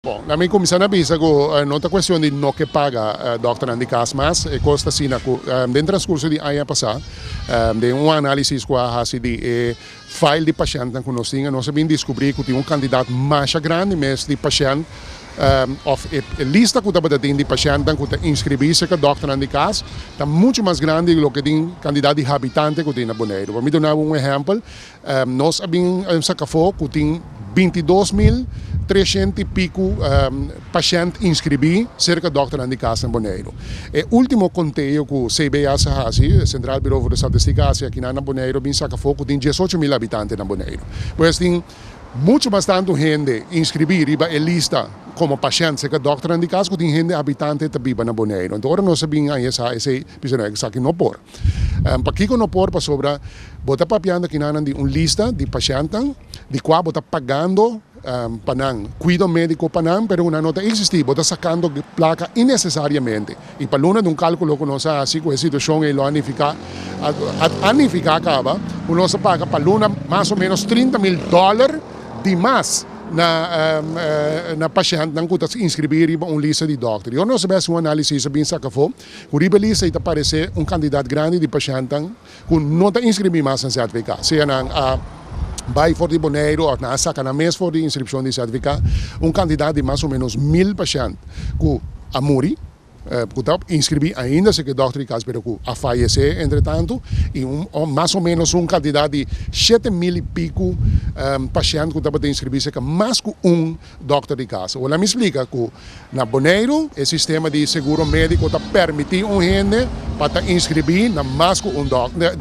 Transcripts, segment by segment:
Bon, lamin cuminsa na bisa cu no ta cuestion di no ke paga dokternan di cas mas e cos ta asina cu den transcurso di aña pasa den un analisis cu a haci di e file di pashentnan cu nos tin nos a bin descubri cu tin un cantidad masha grandi mes di pashent of e lista cu tabata tin di pashentnan cu ta inscribi cerca dokternan di cas ta mucho mas grandi di loke tin cantidad di habitante cu tin na Boneiru. Por mi dunabo un ehempel Nos a bin sa kafó ku tin bintidos mil treshent i piku pashènt inskribí serka dòkternan di kas na Boneiru. E último konteo ku CBS a hasi, Sentral Buro for de Statistika, a hasi akinan na Boneiru a bin sa kafó ku tin diesocho mil habitante na Boneiru. Pues tin muchu mas tantu hende inskribí riba e lista komo pashènt serka dòkternan di kas ku tin hende habitante ta biba na Boneiru. Anto ora nos a bin aña sa esei bisa nos esaki no por. Pakiko no por? Pasobra bo ta papiando kinanan di un lista di pashèntnan di kua bo ta pagando pa nan kuido médiko pa nan, pero ku nan no ta eksistí. Bo ta sakando plaka inesesariamente. I pa luna di un kálkulo ku nos a hasi ku e situashon ei lo a nifiká, a nifiká kaba ku nos a paga pa luna mas o ménos trinta mil dòler di mas na pashèntnan ku ta inskribí riba un lista di dòkter. Yo no sabé si un análisis a bin saka afó. Ku riba e lista ei ta paresé un kantidat grandi di pashantan ku no ta inskribí mas na ZVK, sea nan a bai for di Boneiru òf nan a saka nan mes for di inskripshon di ZVK. Un kantidat di mas o ménos mil pashant ku a muri, ku ta por inskribí ainda si ke dòkter di kas pero ku a fayesé entretantu, i un mas o ménos un kantidat di shete mil i piku pashant ku tabata inskribí serka mas ku un Dòkter di kasa. Hola mi splika ku na Boneiru e sistema di seguro médiko ta permití un hende pa ta inskribí na mas ku un dòkter.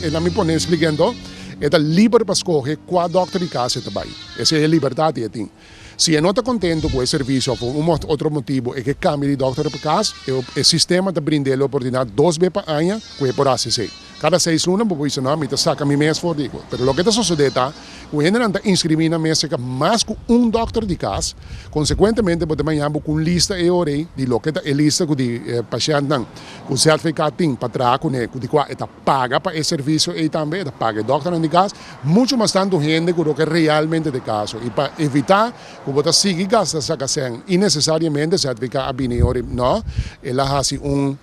E na mi pone splika ento e ta liber pa skohe kua dòkter di kasa e ta bai. Esei e libertat di e tin. Si e no ta kontentu ku e servisio òf un otro motibu e ke kambia di dòkter pa kas, e sistema ta brinda el oportunidat dos be pa aña ku e por hasi esei. Kada seis luna bo bisa, No, mi ta saka mi mes for di cu. Pero loke ta sosode ta cu hendenan ta inscribi na mes seca mas cu un dokter di cas. Consecuentemente bo ta baña bo cu un lista e ora ei di loke ta e lista cu di pashentnan cu ZVK tin pa traha cune, cu di cua e ta paga pa e servicio ei tambe, e ta paga e dokternan di cas, mucho mas tanto hende cu roke realmente ta e caso. Y pa evita cu bo ta sigui gasta saka cen innecesariamente, ZVK a bini e ora ei, No, el a haci un.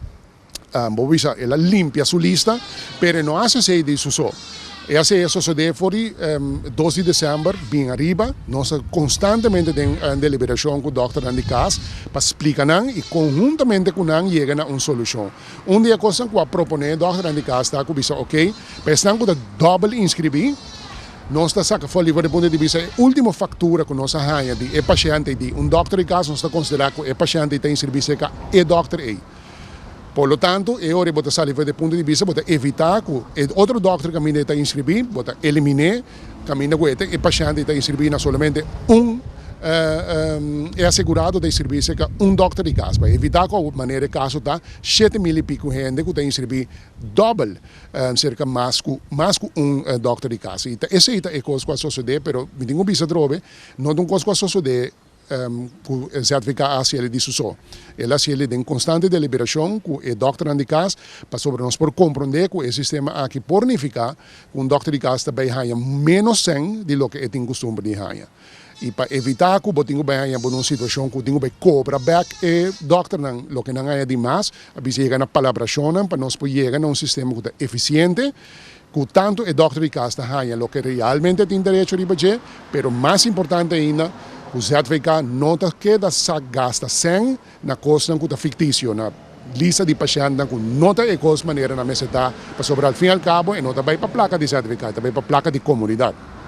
Bo bisa, el a limpia su lista, pero e no hasi esei di su so. E hasi e sosode for di dos di december bin ariba. Nos ta constantemente den deliberacion cu dòkternan di cas pa splica nan y conhuntamente cu nan yega na un solucion. Un di e cosnan cu a propone dòkternan di cas ta cu bisa ok, pa esnan cu ta dobel inscribi, nos ta saca for liber di punto di bisa e ultimo factura cu nos a haya di e pashentey di un dòkter di cas, nos ta considera cu e pashentey ta inscribi seca e dòkter ey. Por lo tanto, e ora bo ta sali for di e punto di bista, bo ta evitá ku e otro dòkter kaminda e ta inskribí, bo ta eliminé kaminda ku e ta e pashènt, e ta inskribí na solamente un e asegurado ta inskribí serka un dòkter di kas. Pa evitá ku awe manera e kaso ta shete mil i piku hende ku ta inskribí dòbel serka mas ku mas ku un dòkter di kas. I ta esei ta e kos ku a sosodé, pero mi tin ku bisa trobe, no ta un kos ku a sosodé. ku e ZVK a hasi eli di su so. El hasi eli den konstante deliberashon ku e dòkternan di kas pasobra nos por komprondé ku e sistema aki por nifiká ku un dòkter di kas ta bai haña ménos sèn di loke e tin kustumber di haña. I pa evitá ku bo tin ku bai haña bo na un situashon ku tin ku bai kobra bèk e dòkternan loke nan haña di mas, a bisa yega na palabrashonnan pa nos por yega na un sistema ku ta efisiente, Ku tantu e dòkter di kas ta haña loke realmente tin derecho riba dje, pero mas importante ainda ku ZVK no ta keda sa gasta sèn na kosnan ku ta fiktisio, na lista di pashèntnan ku no ta e kos manera nan mester ta, pasobra alfinalkabo e no ta bai pa plaka di ZVK, e ta bai pa plaka di komunidat.